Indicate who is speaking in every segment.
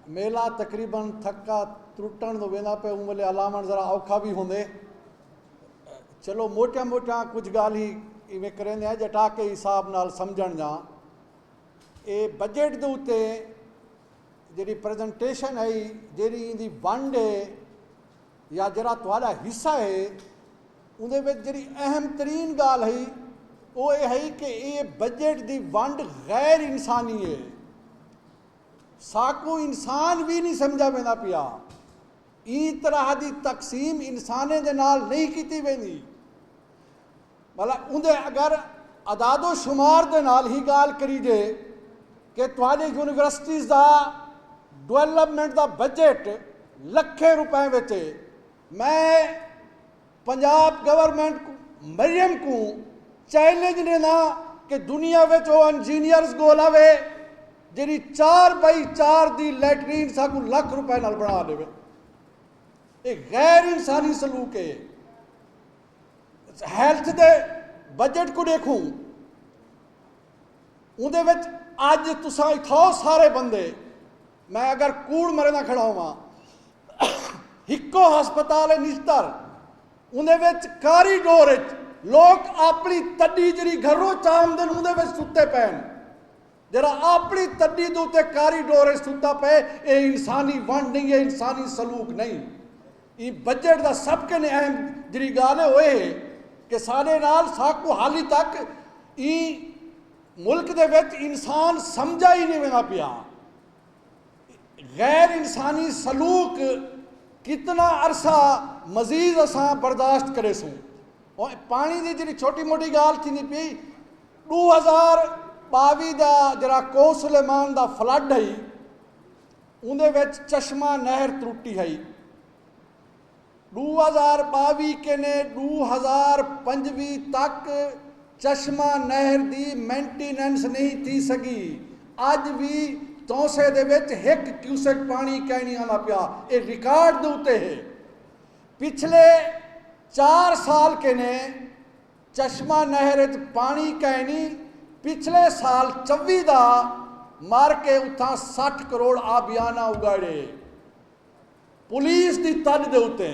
Speaker 1: میلہ تقریبا تھکا ترٹݨ دو ویندا پئے اوں ویلے ہلاوݨ ذرا اوکھا وی ہوندے چلو موٹیاں موٹیاں کجھ گالھی ایویں کریندے ہیں جٹا کے حساب نال سمجھن جاں اے بجٹ دے اتے جیڑی پریزنٹیشن ہے جیڑی ایندی ونڈ ہے یا جڑا تہاڈا حصہ ہے اوندے وچ جیڑی اہم ترین گال ہے او اے ہے کہ اے بجٹ دی ونڈ غیر انسانی ہے ساکوں انسان وی نی سمجھا ویندا پیا۔ ایں طرح دی تقسیم انسانیں دے نال نئیں کیتی ویندی۔ بھلا اوندے اگر اعداد و شمار دے نال ہی گالھ کریجے کہ تہاڈے یونیورسٹیز دا ڈویلپمنٹ دا بجٹ لکھیں روپیں وچ اے۔ میں۔ پنجاب گورنمنٹ کوں مریم کوں چیلنج ݙینداں کہ دنیا وچ او انجینئرز ڳول آوے جیڑھی چار بائی چار دی لیٹرین ساکوں لکھ روپے نال بݨا ݙیوے اے غیر انسانی سلوک اے ہیلتھ دے بجٹ کوں ݙیکھوں اوندے وچ اج تساں اتھاؤ سارے بندے میں اگر کوڑ مریندا کھڑا ہوواں۔ ہکو ہسپتال اے نشتر اوندے وچ کاری ڈور اچ لوک آپنی تڈی جیرھی گھروں چاہمدن اوندے وچ ستے پئن۔ جیرھا آپنی تڈی دے اتے کاری ڈور اچ ستا پئے اے انسانی ونڈ نئیں اے انسانی سلوک نئیں۔ ایں بجٹ دا سب کن اہم جیرھی گالھ اے اوہ اے کہ ساڈے نال ساکوں حالی تک ایں ملک دے وچ انسان سمجھا ہی نی ویندا پیا۔ غیر انسانی سلوک کتنا عرصہ مزید اساں برداشت کریسوں۔ پاݨی دی جیڑھی چھوٹی موٹی ڳالھ تھیندی پئی ݙو ہزار ٻاوی دا جیڑھا کوہ سلیمان دا فلڈ ہئی اوندے وچ چشمہ نہر ترٹی ہئی۔ ݙو ہزار ٻاویھ کنیں ݙو ہزار پنجویھ تک چشمہ نہر دی مینٹیننس نہیں تھی سڳی، اڄ وی تونسہ دے وچ ہک کیوسک پاݨی کائنی آندا پیا اے ریکارڈ دے اتے ہے، پچھلے چار سال کنیں چشمہ نہر اچ پاݨی کائنی، پچھلے سال چوی دا مر کے اتھاں سٹھ کروڑ آبیانہ اگاڑے۔ پولیس دی تݙ دے اتے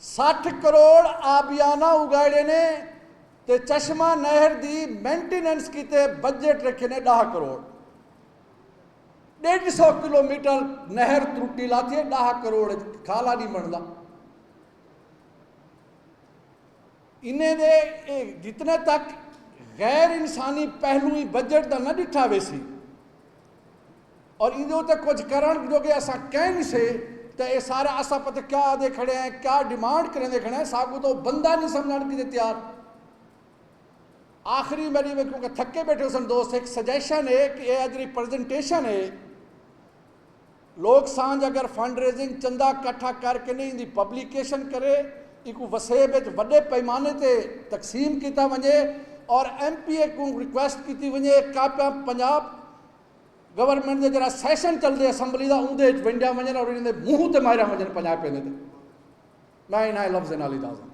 Speaker 1: سٹھ کروڑ آبیانہ اگائیڑے نے تے چشمہ نہر دی مینٹیننس کیتے بجٹ رکھے نے ݙاہ کروڑ۔ ݙیڈھ سو کلو میٹر نہر ترٹی لاتی ہے ݙاہ کروڑ کھالا نہیں بندا۔ انہیں دے جتنے تک غیر انسانی پہلو ای بجٹ دا نہ ڈٹھا ویسی اور ایندے اتے کچھ کرن جو کہ اساں کہیں نی سے تے اے سارا اساں پتہ کیا آدھے کھڑے ہیں کیا ڈیمانڈ کریندے کھڑے ہیں ساکوں تو بندہ نی سمجھن کیتے تیار آخری میری میں کیونکہ تھکے بیٹھے سن دوست ایک سجیشن ہے کہ اے جڑی پریزنٹیشن ہے لوک سانجھ اگر فنڈ ریزنگ چندہ کٹھا کر کنے ایندی پبلیکیشن کرے، ایکوں وسیب اچ وڈے پیمانے تے تقسیم کیتا ونجے اور ایم پی اے کوں ریکویسٹ کیتی ونجے اے کاپیاں پنجاب گورنمنٹ دے جیرھا سیشن چلدے اسمبلی دا اوندے اچ ونڈیاں ونجن اور انہاں دے منہ تے ماریاں ونجن پنجاب پیندے تے میں انہاں لفظاں نال اجازت۔